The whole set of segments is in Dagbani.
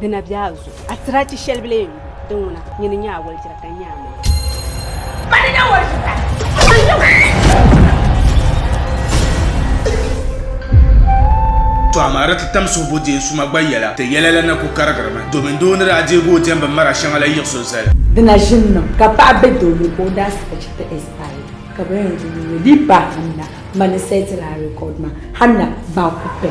Di na be a zuɣu, a tiri a chi shɛli bila yɛn yuui din ŋuna, nyini ni nya a wɔlijira ka nya a mini. Ba ni nya wɔlijira. To amaa di ti tam suhuboo deei suma gba yɛla, ti yɛla la na ku karigirimi domin doo ni daa deegi o diɛmbu mara shɛŋa la yiɣis o zali. Di na ʒinimi ka paɣa be doo ni ka o daa saɣi chi ti Ismail. ka bɛ yɛn di nini di ba hanna ma ni sɛti la rekɔd ma hanna ba ku pɛ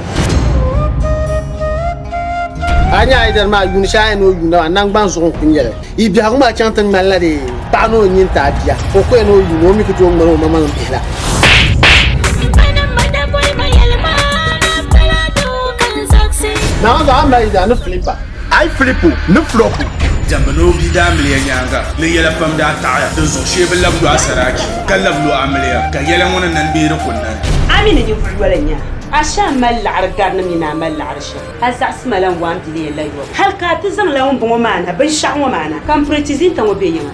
a nyɛ ayidari maa yuuni shɛli ayina o yuuna maa nangban zuɣu n ku nyɛli yi biɛhigu maa chaŋ ti ŋmani la dee paɣa ni o nyin ti a bia o ku yɛn o yuuni o mi ku tooi ŋmani o mamaŋ bihi la Naawuni zaɣa mali yidana ni Filipa Ai Filipu ni Flupu. Diɛmbu ni o bia daa miliya nyaaŋa ni yɛla pam daa taɣiya, dinzuɣu shee bi labi lu a saraachi, ka labi lu a miliya, ka yɛla ŋɔ ni nani bee di ku nani. A mi ni ninvuɣ yoli n-nya a, a shih a mali laɣiri gari ni mi ni a mali laɣiri shih a zaɣisi ma la n-waam biliya la yɔbu. Hal ka a ti zaŋ la ŋumbɔŋɔ maana binshɛɣu ŋɔ maana, ka m piritizinta ŋɔ be yiŋa.